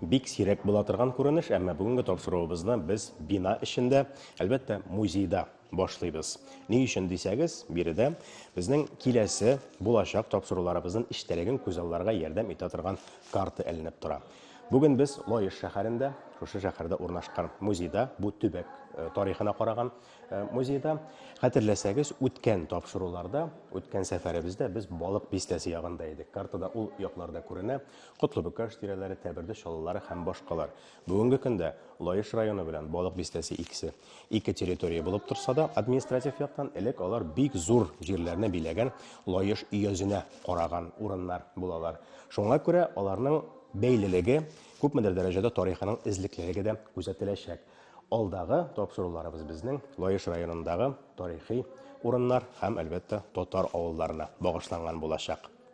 Бик сирәк була торган күренеш, әмма бүгенге тапшыруыбызны без бина эчендә, әлбәттә, музейда башлыйбыз. Ни өчен дисәгез, биредә безнең киләсе булачак тапшыруларыбызның эчтәлеген күзалларга ярдәм итә торган карта эленеп тора. Бүген без Лаеш шәһәрендә, шушы шәһәрдә урнашкан музейда, бу төбәк э, тарихына караган э, музейда, хәтерләсәгез, үткән тапшыруларда, үткән сәфәребездә без балык бистәсе ягында идек. Картада ул якларда күренә. Котлыбөкаш тирәләре, Тәберде чаллылары һәм башкалар. Бүгенге көндә Лаеш районы белән Балык Бистәсе икесе ике территория булып торса да, административ яктан элек алар бик зур җирләрне биләгән Лаеш өязенә караган урыннар булалар. Шуңа күрә аларның бәйлелеге, күпмедер дәрәҗәдә тарихының эзлеклелеге дә күзәтеләчәк. Алдагы тапшыруларыбыз безнең Лаеш районындагы тарихи урыннар һәм, әлбәттә, татар авылларына багышланган булачак.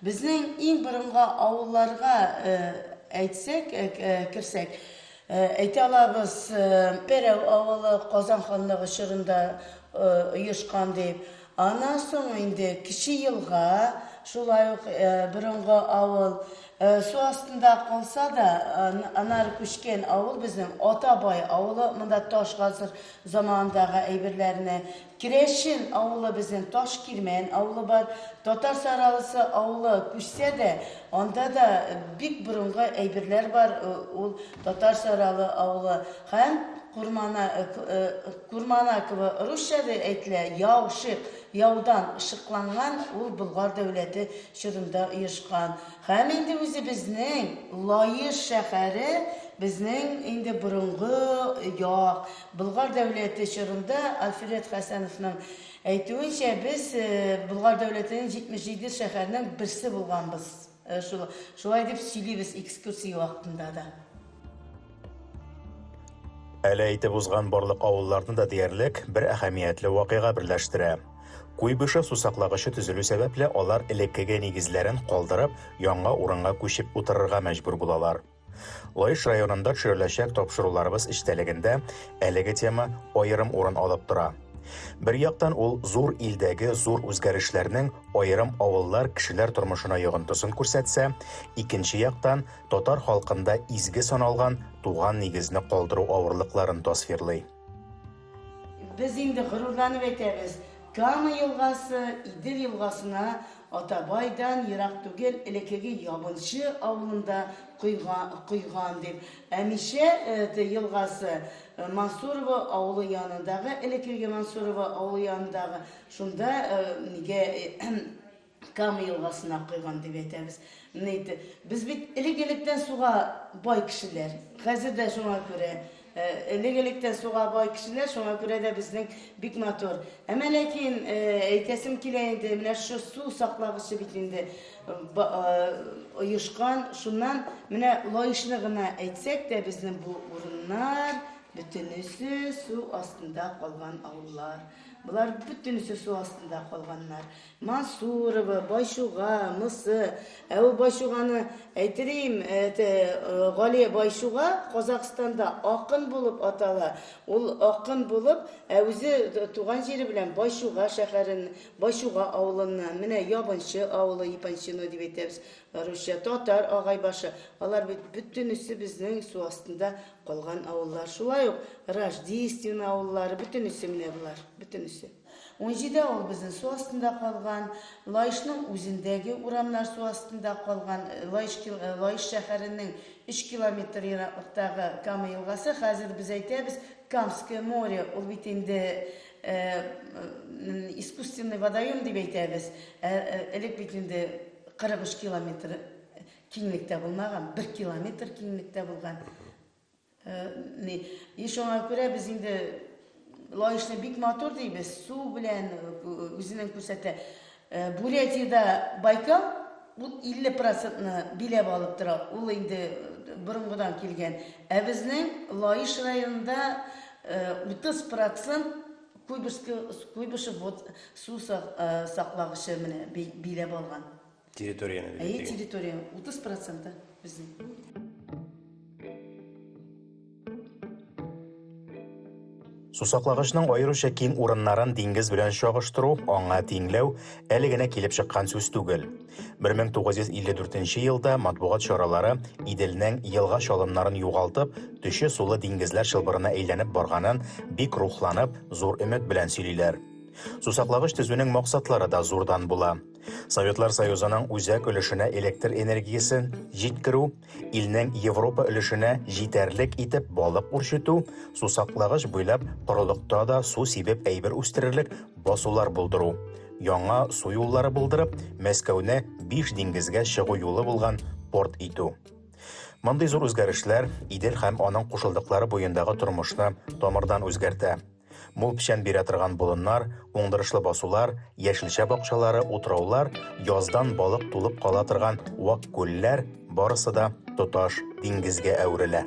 Безнең иң борынгы авылларга әйтсәк, керсәк, әйтә алабыз, Пәрәү авылы Казан ханлыгы чорында оешкан дип. Аннан соң инде Кече елга, шулай ук борынгы авыл. Су астында калса да, аннары күчкән авыл безнең Атабай авылы. Монда таш гасыр заманындагы әйберләрне Керәшен авылы безнең Ташкирмән авылы бар, Татар Саралысы авылы күчсә дә, анда да бик борынгы әйберләр бар, ул Татар Саралы авылы һәм Курмана, Курманаково, русча дип әйтелә, яу, шик, яудан шыкланган, ул Болгар дәүләте чорында оешкан. Һәм инде үзе безнең Лаеш шәһәре безнең инде борынгы як, Болгар дәүләте чорында, Альфред Хәсәновның әйтүенчә, без Болгар дәүләтенең 77 шәһәрнең берсе булганбыз. Шул, шулай дип сөйлибез экскурсия вакытында да. Әле әйтеп узган барлык авылларны да диярлек бер әһәмиятле вакыйга берләштерә. Куйбышев сусаклагычы төзелү сәбәпле, алар элеккеге нигезләрен калдырып, яңа урынга күчеп утырырга мәҗбүр булалар. Лаеш районында төшереләчәк тапшыруларыбыз эчтәлегендә әлеге тема аерым урын алып тора. Бер яктан ул зур илдәге зур үзгәрешләрнең аерым авыллар, кешеләр тормышына йогынтысын күрсәтсә, икенче яктан татар халкында изге саналган туган нигезне калдыру авырлыкларын тасвирлый. Без инде горурланып әйтәбез, Кама елгасы Идел елгасына Атабайдан ерак түгел элекеге Ябынчы авылында койган дип, ә Мишә елгасы Мансурово авылы янындагы элекеге Мансурово авылы янындагы шунда Кама елгасына койган дип әйтәбез. Менә инде без бит элек-электән суга бай кешеләр. Хәзер дә шуңа күрә э, элек-электән суга бай кешеләр, шуңа күрә дә безнең бик матур. Әмма ләкин э, әйтәсем килә инде, менә шу су саклагычы бит инде э, ба- э, оешкан. Шуннан менә лаешлы гына әйтсәк тә, безнең бу урыннар бөтенесе су астында калган авыллар. Болар бөтенесе су астында калганнар. Масурова, Байшуга, Мысы. Ә ул Байшуганы әйтерием, Гали Байшуга Казакъстанда акын булып атала. Ул акын булып, ә үзе туган җире белән Байшуга шәһәрен, Байшуга авылыннан. Менә Ябынчы авылы, Ипанчино дип әйтәбез русча, татар агай башы. Алар бит бөтенесе безнең су астында калган авыллар. Шулай ук Рождествино авыллары, бөтенесе менә болар, бөтенесе. Унҗиде авыл безнең су астында калган, Лаешның үзендәге урамнар су астында калган, Лаеш Лаеш шәһәренең өч километр ераклыктагы Кама елгасы, хәзер без әйтәбез, Камское море, ул бит инде искусственный водоем дип әйтәбез, ә элек бит инде 43 километр киңлектә булмаган, бер километр киңлектә булган. Ни, и шуңа күрә без инде лаешны бик матур дибез, су белән үзенең күрсәтә. Бурятиядә Байкал ул 50 процентны биләп алып тора, ул инде борынгыдан килгән. Ә безнең Лаеш районында 30 процент Куйбышев су саклагычы менә биләп алган. Территорияне Әйе, бетердегез. территория 30 проценты безнең. Сусаклагычның аеруча киң урыннарын диңгез белән чагыштыру, аңа тиңләү әле генә килеп чыккан сүз түгел. 1954 елда матбугат чаралары Иделнең елга чалымнарын югалтып, төче сулы диңгезләр чылбырына әйләнеп барганын бик рухланып, зур өмет белән сөйлиләр. Сусаклагыч төзүнең максатлары да зурдан була. Советлар Союзының үзәк өлешенә электр энергиясен җиткерү, илнең Европа өлешенә җитәрлек итеп балык үрчетү, сусаклагыч буйлап корылыкта да су сибеп әйбер үстерерлек басулар булдыру, яңа су юллары булдырып, Мәскәүне биш диңгезгә чыгу юлы булган порт итү. Мондый зур үзгәрешләр Идел һәм аның кушылдыклары буендагы тормышны тамырдан үзгәртә. Мул печән бирә торган болыннар, уңдырышлы басулар, яшелчә бакчалары, утраулар, яздан балык тулып кала торган вак күлләр, барысы да тоташ диңгезгә әверелә.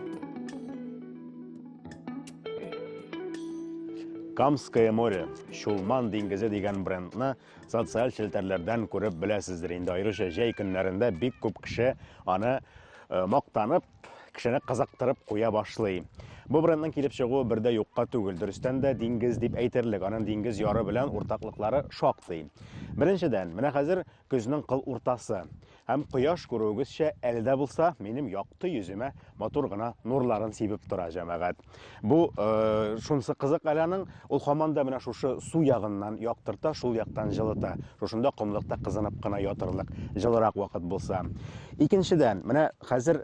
Камское море, Чулман диңгезе дигән брендны социаль челтәрләрдән күреп беләсездер инде. Аеруча җәй көннәрендә бик күп кеше аны э, мактанып кешене кызыктырып куя башлый. Бу брендның килеп чыгуы бер дә юкка түгел, дөрестән дә диңгез дип әйтерлек, аның диңгез яры белән уртаклыклары шактый. Беренчедән, менә хәзер көзнең кыл уртасы. Һәм кояш күрүегезчә әле дә булса, минем якты йөземә матур гына нурларын сибеп тора җәмәгать. Бу э, шунсы кызык Аляның, ул хаман да менә шушы су ягыннан яктырта, шул яктан җылыта. Шушында комлыкта кызынып кына ятырлык, җылырак вакыт булса. Икенчедән, менә хәзер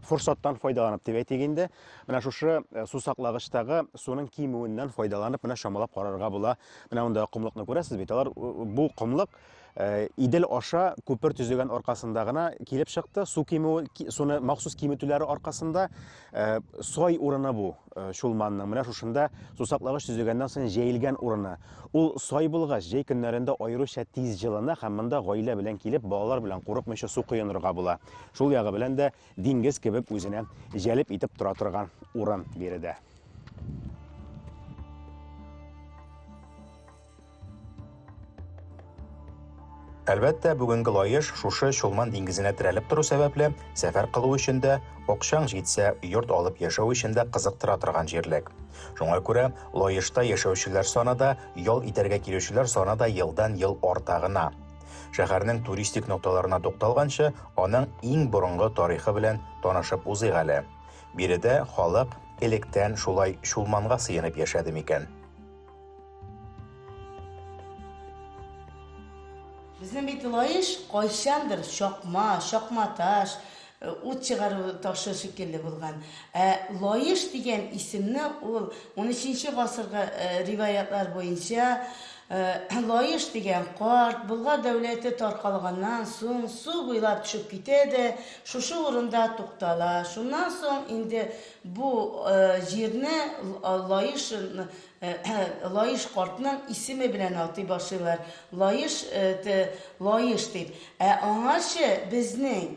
форсаттан файдаланып дип әйтик инде, менә шушы э, су саклагычтагы суның кимүеннән файдаланып, менә чамалап карарга була. Менә монда комлыкны күрәсез бит, алар э, бу комлык Э, идел аша күпер төзегән аркасында гына килеп чыкты су кимүе суны махсус киметүләре аркасында э, сай урыны бу э, чулманның менә шушында сусаклагыч төзегәннән соң җәелгән урыны ул сай булгач җәй көннәрендә аеруча тиз җылына һәм монда гаилә белән килеп балалар белән курыкмыйча су коенырга була шул ягы белән дә диңгез кебек үзенә җәлеп итеп тора торган урын биредә Әлбәттә, бүгенге лаеш шушы Чулман диңгезенә терәлеп тору сәбәпле, сәфәр кылу өчен дә, акчаң җитсә, йорт алып яшәү өчен дә кызыктыра торган җирлек. Шуңа күрә лаешта яшәүчеләр саны да, ял итәргә килүчеләр саны да елдан-ел арта гына. Шәһәрнең туристик нокталарына тукталганчы, аның иң борынгы тарихы белән танышып узыйк әле. Биредә халык электән шулай Чулманга сыенып яшәде микән? Безнең бит Лаеш кайчандыр чакма, чакма таш, э, ут чыгару ташы шикелле булган. Ә Лаеш дигән исемне ул 13 гасырга э, риваятлар буенча э, Лаеш дигән карт Болгар дәүләте таркалганнан соң су буйлап төшеп китә дә, шушы урында туктала. Шуннан соң инде Бу җирне Лаеш Лаеш картның исеме белән атый башлыйлар. Лаеш те Лаеш дип. Ә аңарчы безнең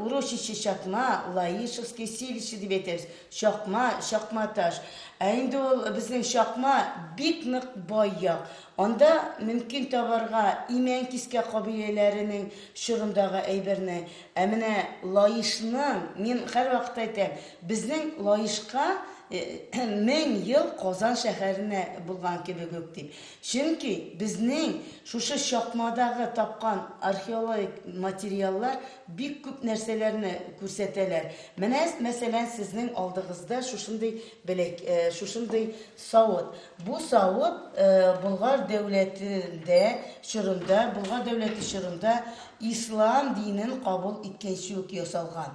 урочище Чакма, Лаешевское селище дип әйтәбез. Чакма, чакма таш. Ә инде ул безнең Чакма бик нык бай як. Анда мөмкин табарга имән-кискә кабиләләренең чорындагы әйберне. Ә менә Лаешның, мин һәрвакыт әйтәм, безнең Лаешка мең ел Казан шәһәренә булган кебек үк дип. Чөнки безнең шушы чакмадагы тапкан археологик материаллар бик күп нәрсәләрне күрсәтәләр. Менә, мәсәлән, сезнең алдыгызда шушындый беләк, шушындый савыт. Бу савыт Болгар дәүләте дә чорында, Болгар дәүләте чорында ислам динен кабул иткәнче үк ясалган.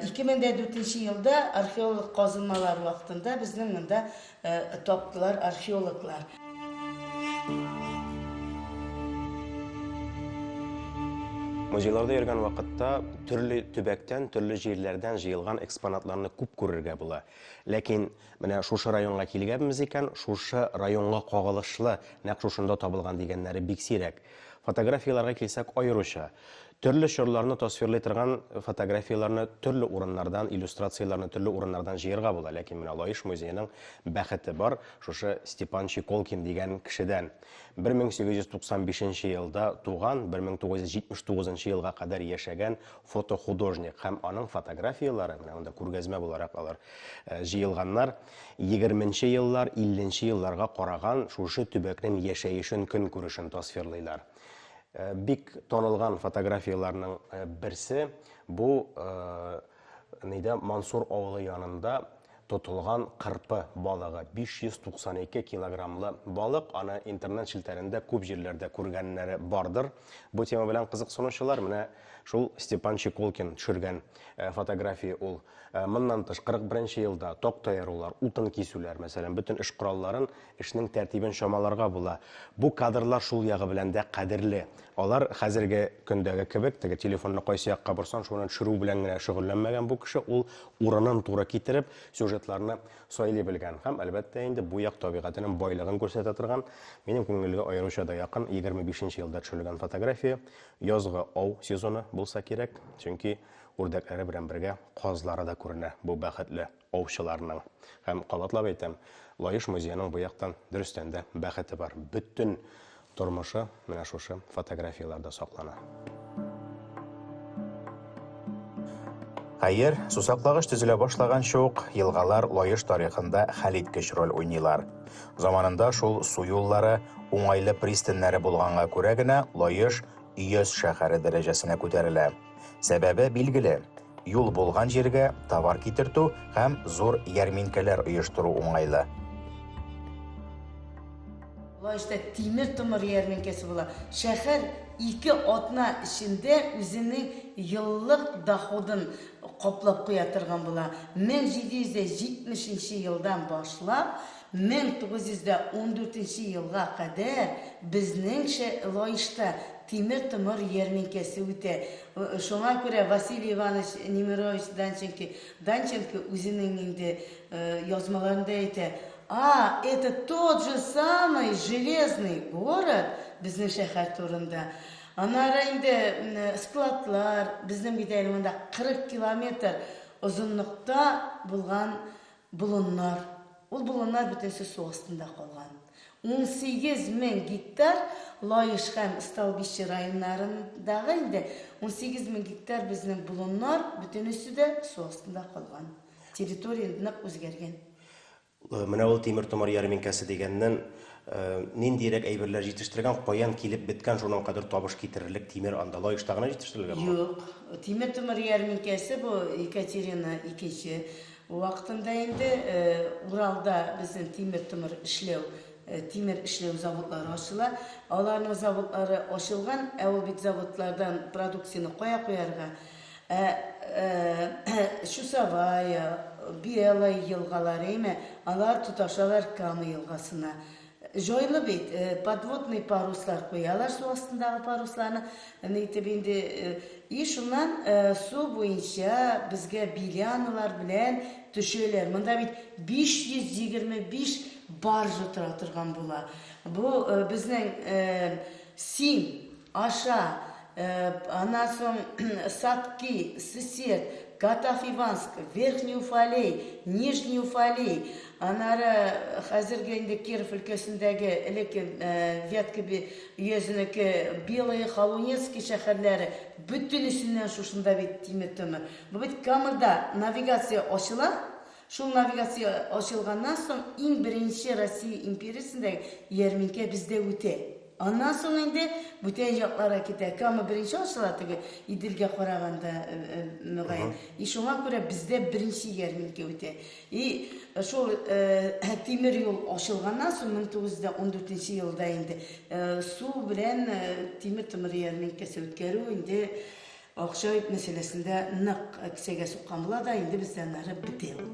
Ике мең дә дүртенче елда археолог казынмалар вакытында безнең монда таптылар археологлар. Музейларда йөргән вакытта төрле төбәктән, төрле җирләрдән җыелган экспонатларны күп күрергә була. Ләкин Менә шушы районга килгәнбез икән, шушы районга кагылышлы, нәкъ шушында табылган дигәннәре бик сирәк. Фотографияләргә килсәк, аеруча. Төрле чорларны тасвирлый торган фотографияләрне төрле урыннардан, иллюстрацияләрне төрле урыннардан җыерга була, ләкин менә Лаеш музееның бәхете бар, шушы Степан Чеколкин дигән кешедән. 1895 елда туган, 1979 елга кадәр яшәгән фотохудожник һәм аның фотографияләре, менә монда күргәзмә буларак алар җыелганнар, егерменче еллар, илленче елларга караган шушы төбәкнең яшәешен, көнкүрешен тасвирлыйлар. Бик танылган фотографияләрнең берсе, бу Нидә Мансур авылы янында Тотылган кырпы балыгы, 592 килограммлы балык, аны интернет челтәрендә күп җирләрдә күргәннәре бардыр. Бу тема белән кызыксынучылар, менә шул Степан Чекулкин төшергән фотография ул. Моннан тыш, 41 нче елда ток тайырулар, утын кисүләр, мәсәлән, бөтен эш коралларын Эшнең тәртибен чамаларга була. Бу кадрлар шул ягы белән дә кадерле. Алар, хәзерге көндәге кебек, теге телефонны кайсы якка борсаң, шуны төшерү белән генә шөгыльләнмәгән бу кеше, ул урынын туры китереп, сюжетларны сайлый белгән һәм, әлбәттә инде, бу як табигатенең байлыгын күрсәтә торган, минем күңелгә аеруча да якын, егерме бишенче елда төшерелгән фотография, язгы ау сезоны булса кирәк, чөнки үрдәкләре белән бергә казлары да күренә бу бәхетле. Аучыларның, һәм, кабатлап әйтәм, Лаеш музееның бу яктан, дөрестән дә, бәхете бар, бөтен тормышы менә шушы фотографияләрдә саклана. Хәер, сусаклагыч төзелә башлаганчы ук, елгалар Лаеш тарихында хәлиткеч роль уйныйлар. Заманында шул су юллары, уңайлы пристаньнәре булганга күрә генә Лаеш өяз шәһәре дәрәҗәсенә күтәрелә. Сәбәбе билгеле. Юл булган җиргә товар китертү һәм зур ярминкәләр оештыру уңайлы. Лаештә тимер томыр ярминкәсе була. Шәһәр ике атна эчендә үзенең еллык доходын каплап куя торган була. 1770 нче елдан башлап 1914 нче елга кадәр безнең Лаешта тимер томыр ярминкәсе үтә. Шуңа күрә Василий Иванович Немирович Данченки, Данченко үзенең инде язмаларында әйтә, А, это тот же самый железный город, безнең шәһәр турында. Аннары инде складлар, безнең бит әле монда 40 километр озынлыкта булган Болыннар, ул болыннар бөтенесе су астында калган. Унсигез мең гектар Лаеш һәм Столбище районнарындагы инде унсигез мең гектар безнең болыннар бөтенесе дә су астында калган. Территория нык үзгәргән. Менә ул Тимер томар ярминкәсе дигәннән, ниндиерәк әйберләр җитештергән, каян килеп беткән шуның кадәр табыш китерерлек тимер анда, Лаешта гына җитештерелгәнме? Юк, Тимер томар ярминкәсе бу Екатерина икенче Вакытында инде Уралда безнең тимер-томыр эшләү, тимер эшләү заводлары ачыла. Аларның заводлары ачылган, ә ул бит заводлардан продукцияне кая куярга? Ә Чусовая, Белая елгалары, әйме, алар тоташалар Кама елгасына. Җайлы бит, подводный паруслар куялар су астындагы парусларны нитеп инде и шуннан су буенча безгә белянылар белән төшәләр. Монда бит 525 баржа тора торган була. Бу безнең син Аша, аннан соң Садки, Сысер, Катав Иванск, Верхний Уфалей, Нижний Уфалей, аннары хәзерге инде Киров өлкәсендәге элек Вятка өязенеке Белые Холунецкие шәһәрләре, бөтенесеннән шушында бит тимер томыр. Бу бит Камырда навигация ачыла, шул навигация ачылганнан соң иң беренче Россия империясендәге ярминкә бездә үтә. Аннан соң инде бүтән якларга китә. Кама беренче ачыла теге Иделгә караганда, э, э, мөгаен. И шуңа күрә бездә беренче ярминкә үтә. И э, шул э, тимер юл ачылганнан соң 1914 елда инде э, су белән э, тимер тимер ярминкәсе үткәрү инде Акча мәсьәләсендә нык кесәгә суккан була да, инде бездә аннары бетә ул.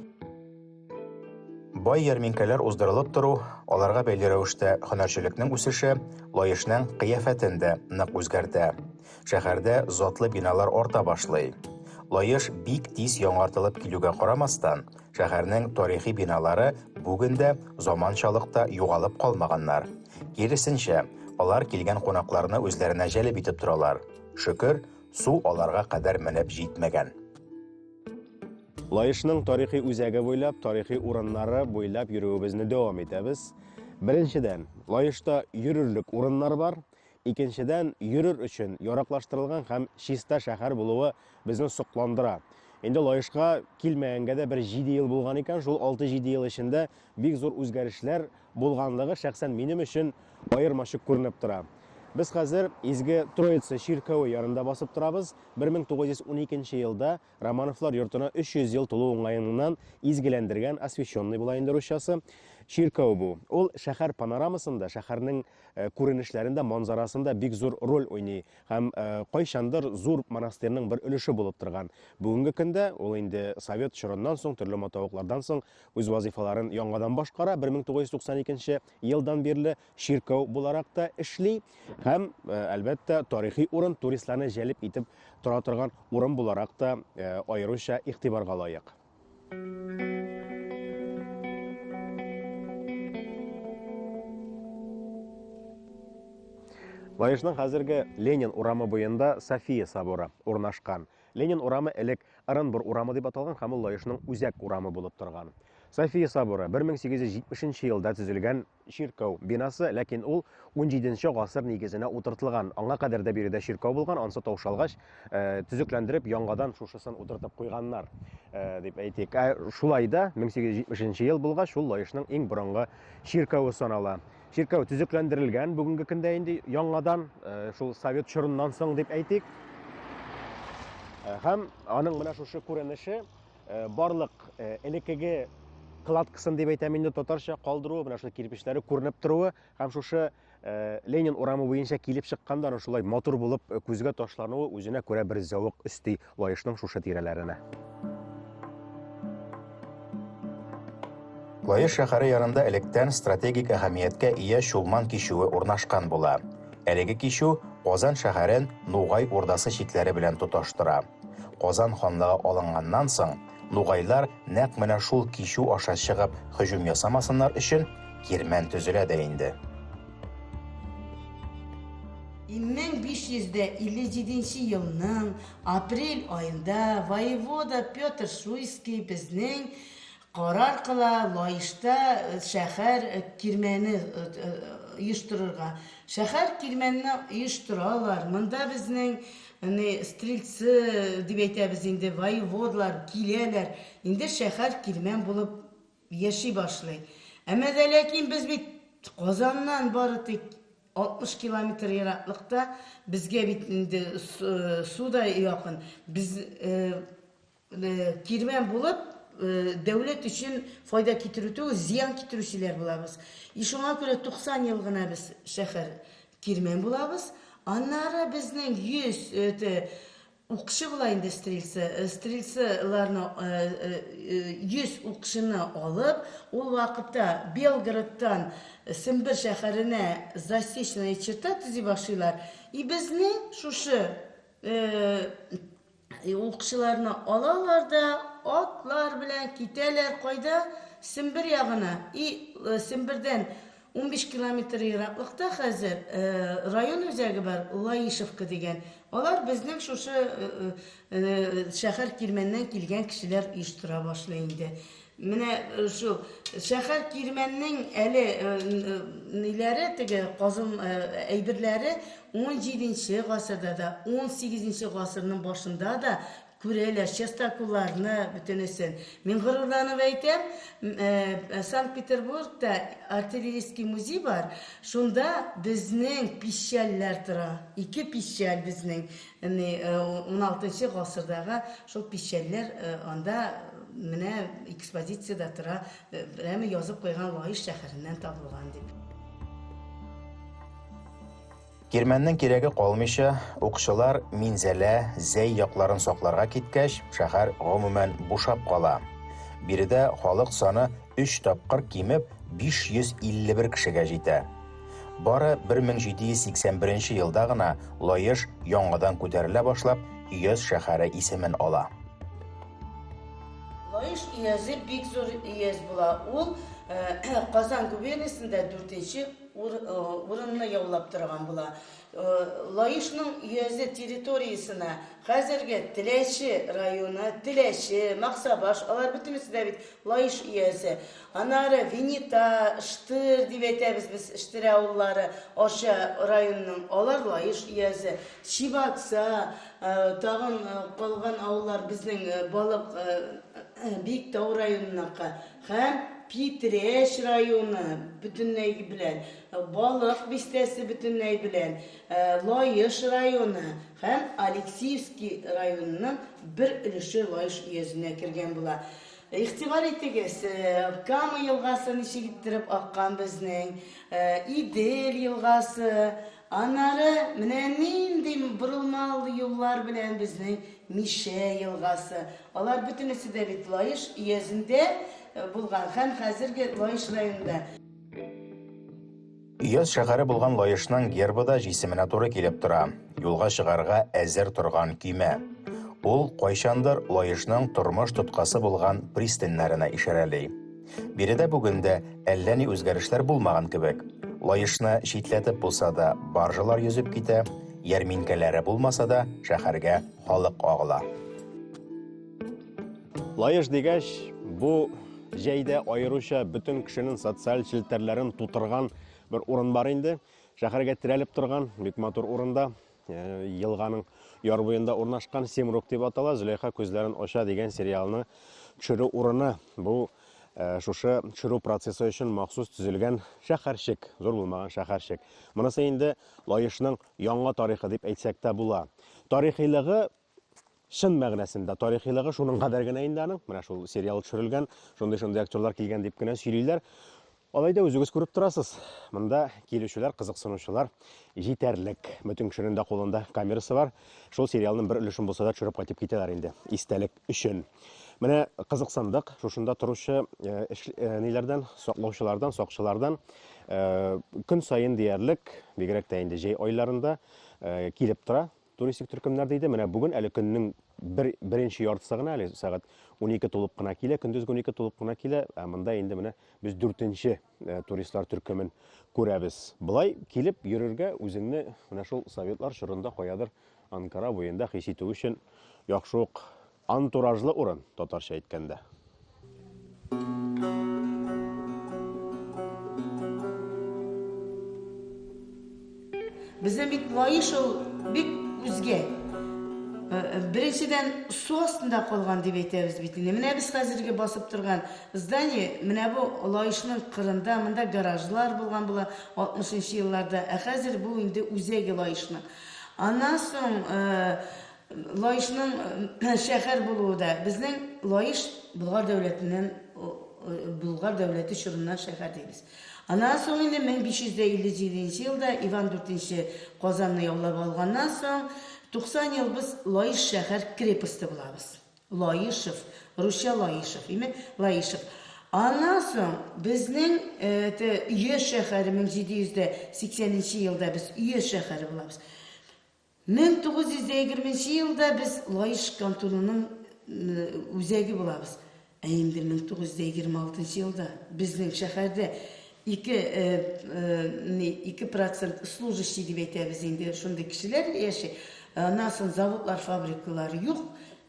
Бай ярминкәләр уздырылып тору, аларга бәйле рәвештә һөнәрчелекнең үсеше Лаешның кыяфәтен дә нык үзгәртә. Шәһәрдә затлы биналар арта башлый. Лаеш бик тиз яңартылып килүгә карамастан, шәһәрнең тарихи биналары бүген дә заманчалыкта югалып калмаганнар. Киресенчә, алар килгән кунакларны үзләренә җәлеп итеп торалар. Шөкер, су аларга кадәр менеп җитмәгән. Лаешның тарихи үзәге буйлап, тарихи урыннары буйлап йөрүебезне дәвам итәбез. Беренчедән, Лаешта йөрерлек урыннар бар. Икенчедән, йөрер өчен яраклаштырылган һәм чиста шәһәр булуы безне сокландыра. Инде Лаешка килмәгәнгә дә бер 7 ел булган икән, шул 6-7 ел эчендә Бик зур үзгәрешләр булганлыгы шәхсән минем өчен аермачык күренеп тора. Без хәзер Изге Троица чиркәве ярында басып торабыз. 1912 нче елда Романовлар йортына 300 ел тулу уңаеннан изгеләндергән, освященный була инде русчасы, чиркәү бу. Ул шәһәр панорамасында, шәһәрнең э, күренешләрендә, манзарасында бик зур роль уйный һәм э, кайчандыр зур монастырьның бер өлеше булып торган. Бүгенге көндә ул инде совет чорыннан соң, төрле матавыклардан соң Үз вазыйфаларын яңадан башкара, 1992 елдан бирле чиркәү буларак та эшли һәм, э, әлбәттә, тарихи урын туристларны җәлеп итеп тора торган урын буларак та э, аеруча игътибарга лаек. Лаешның хәзерге Ленин урамы буенда София соборы урнашкан. Ленин урамы элек Ырынбур урамы дип аталган һәм ул Лаешның үзәк урамы булып торган. София соборы 1870 елда төзелгән чиркәү бинасы, ләкин ул 17 гасыр нигезенә утыртылган. Аңа кадәр дә биредә чиркәү булган, ансы таушалгач, э, төзекләндереп, яңадан шушысын утыртып куйганнар, э, дип әйтик. Ә шулай да 1870 ел булгач, ул Лаешның иң борынгы чиркәве санала. Чиркәү төзекләндерелгән бүгенге көндә инде яңадан, э, шул совет чорыннан соң дип әйтик. Э, һәм аның менә шушы күренеше э, барлык элеккеге кладкасын дип әйтәм инде татарча калдыруы, менә шул кирпечләре күренеп торуы һәм шушы Ленин урамы буенча килеп чыкканда аны шулай матур булып күзгә ташлануы үзенә күрә бер зәвык өсти Лаешның шушы тирәләренә. Лаеш шәһәре янында электән стратегик әһәмияткә ия Чулман кичүе урнашкан була. Әлеге кичү Казан шәһәрен Нугай Урдасы чикләре белән тоташтыра. Казан ханлыгы алынганнан соң, нугайлар нәкъ менә шул кичү аша чыгып һөҗүм ясамасыннар өчен кирмән төзелә дә инде. 1557 нче елның апрель аенда воевода Петр Шуйский безнең карар кыла Лаешта шәһәр кирмәне оештырырга. Шәһәр кирмәнне оештыралар, монда безнең не стрельцы дип әйтәбез инде, воеводлар киләләр, инде шәһәр кирмән булып яши башлый. Әмма дә ләкин без бит Казаннан бары тик 60 километр ераклыкта, безгә бит инде су да якын. Без кирмән булып дәүләт өчен файда китерү түгел, зыян китерүчеләр булабыз. И шуңа күрә 90 ел гына без шәһәр кирмән булабыз, аннары безнең 100 Укчы була инде стрельцы. Стрельцы ларны 100 укчыны алып, ул вакытта Белгородтан Сембер шәһәренә засечная черта төзи башлыйлар. И безне шушы укчыларны алалар да атлар белән китәләр кайда? Сембер ягына. И Сембердән Унбиш километр ераклыкта хәзер район үзәге бар, Лаишевка дигән. Алар безнең шушы шәһәр Кирмәннән килгән кешеләр оештыра башлый инде. Менә шул шәһәр Кирмәннең әле ниләре теге казым әйберләре 17 нче гасырда да, 18 нче гасырның башында да Күрәләр, частоколларны, бөтенесен. Мин горурланып әйтәм, Санкт-Петербургта артиллерийский музей бар, шунда безнең пищальләр тора. Ике пищаль безнең, ни, уналтынчы гасырдагы шул пищальләр анда менә экспозициядә тора, прямо язып куйган Лаеш шәһәреннән табылган дип. Кирмәннең кирәге калмыйча, укчылар Минзәлә, Зәй якларын сакларга киткәч, шәһәр гомумән бушап кала. Биредә халык саны өч тапкыр кимеп, 551 кешегә җитә. Бары 1781 нче елда гына Лаеш яңадан күтәрелә башлап, Өяз шәһәре исемен ала. Лаеш өязе бик зур өяз була, ул Казан губерниясендә дүртенче. урынны яулап торган була. Лаешның өязе территориясенә хәзерге Теләче районы, Теләче, Максабаш, алар бөтенесе дә бит Лаеш өязе. Анары Венита, Штыр дип әйтәбез без, Штыр авыллары, Арча районының, алар Лаеш өязе. Чибакса, тагын калган авыллар безнең Балык, Биектау районыныкы. Һәм Питрәч районы бөтенләйге белән, Балык Бистәсе бөтенләй белән, Лаеш районы һәм Алексеевский районының бер өлеше Лаеш өязенә кергән була. Игътибар итегез, Кама елгасы ничек иттереп аккан безнең, Идел елгасы, Аннары менә нинди борылмалы юллар белән безнең Мишә елгасы. Алар бөтенесе дә бит Лаеш өязендә булган һәм хәзерге Лаеш районында. Өяз шәһәре булган Лаешның гербы да җисеменә туры килеп тора, юлга чыгарга әзер торган көймә. Ул кайчандыр Лаешның тормыш тоткасы булган пристаньнәренә ишарәли. Биредә бүген дә әллә ни үзгәрешләр булмаган кебек. Лаешны читләтеп булса да баржалар йөзеп китә, ярминкәләре булмаса да шәһәргә халык агыла. Лаеш дигәч, бу җәйдә аеруча бөтен кешенең социаль челтәрләрен тутырган бер урын бар инде. Шәһәргә терәлеп торган бик матур урында елганың яр буенда урнашкан Семрук дип атала, Зөләйха күзләрен ача дигән сериалны төшерү урыны. Бу э, шушы төшерү процессы өчен махсус төзелгән шәһәрчек, зур булмаган шәһәрчек. Монысы инде Лаешның яңа тарихы дип әйтсәк тә була. Тарихилыгы чын мәгънәсендә тарихилыгы шуның кадәр генә инде аның. Менә шул сериал төшерелгән, шундый-шундый актерлар килгән дип кенә сөйлиләр. Алай да үзегез күреп торасыз, монда килүчеләр, кызыксынучылар җитәрлек. Бөтен кешенең дә кулында камерасы бар. Шул сериалның бер өлешен булса да төшереп кайтып китәләр инде, истәлек өчен. Менә кызыксындык, шушында торучы э, эш, э, ниләрдән, саклаучылардан, сакчылардан э, көн саен диярлек, бигрәк тә инде җәй айларында э, килеп тора Туристик төркемнәр диде, менә бүген әле көннең бер, беренче яртысы гына, әле сәгать 12 тулып кына килә, көндезге 12 тулып кына килә, ә монда инде менә без дүртенче э, туристлар төркемен күрәбез. Былай килеп йөрергә үзеңне менә шул советлар чорында каядыр Анкара буенда хис итү өчен яхшы ук Антуражлы урын, татарча әйткәндә. Бездә бит лаеш ул бик үзгә. Беренчедән, су астында калган дип әйтәбез бит инде. Менә без хәзерге басып торган здание, менә бу лаешның кырында, монда гаражлар булган була 60 нчы елларда, ә хәзер бу инде үзәге лаешның. Аннан соң, Лаешның шәһәр булуы да, безнең Лаеш Болгар дәүләтеннән Болгар дәүләте чорыннан шәһәр дибез. Аннан соң инде 1557 елда Иван дүртенче Казанны яулап алганнан соң, 90 ел без Лаеш шәһәр крепосте булабыз. Лаешев, русча Лаешев, име? Лаешев. Аннан соң безнең те Өер шәһәре 1780 елда без Өер шәһәре булабыз. Мең тугыз йөз дә егерме нче елда без Лаеш кантонының үзәге булабыз. Ә инде мең тугыз йөз дә егерме алтынчы елда безнең шәһәрдә ике, ни, ике процент служащий дип әйтәбез инде, шундый кешеләр яши. Аннан соң заводлар, фабрикалар юк.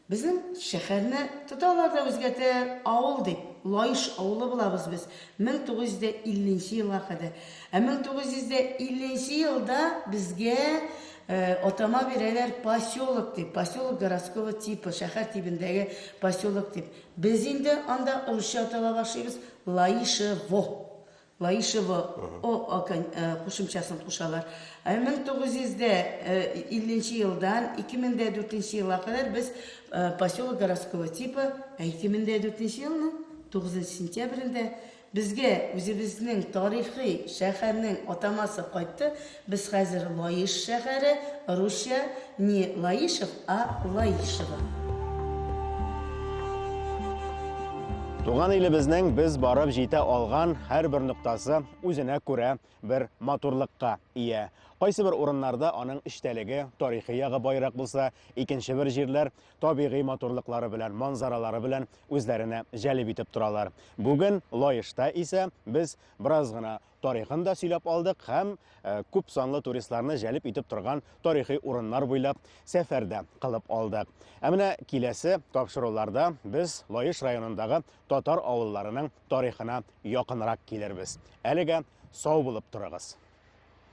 Безнең шәһәрне тоталар да үзгәртә авыл дип, Лаеш авылы булабыз без 1950 нче елга кадәр. Ә 1950 нче елда безгә атама бирәләр поселок дип, поселок городского типа, шәһәр тибендәге поселок дип. Без инде анда русча атала башлыйбыз, Лаишево. Лаишево о о кушымчасын кушалар. Ә 1950 нче елдан 2004 нче елга кадәр без поселок городского типа, ә 2004 нче елның 9 нчы сентябрендә безгә үзебезнең тарихи шәһәрнең атамасы кайтты, Без хәзер Лаеш шәһәре, русча, не Лаишев, а Лаишево. Туган илебезнең без барып җитә алган һәрбер ноктасы үзенә күрә бер матурлыкка ия. Кайсы бер урыннарда аның эчтәлеге, тарихи ягы байрак булса, икенче бер җирләр табигый матурлыклары белән, манзаралары белән үзләренә җәлеп итеп торалар. Бүген Лаешта исә без бераз гына тарихын да сөйләп алдык һәм э, күп санлы туристларны җәлеп итеп торган тарихи урыннар буйлап сәфәр дә кылып алдык. Ә менә киләсе тапшыруларда без Лаеш районындагы татар авылларының тарихына якынрак килербез. Әлегә сау булып торыгыз.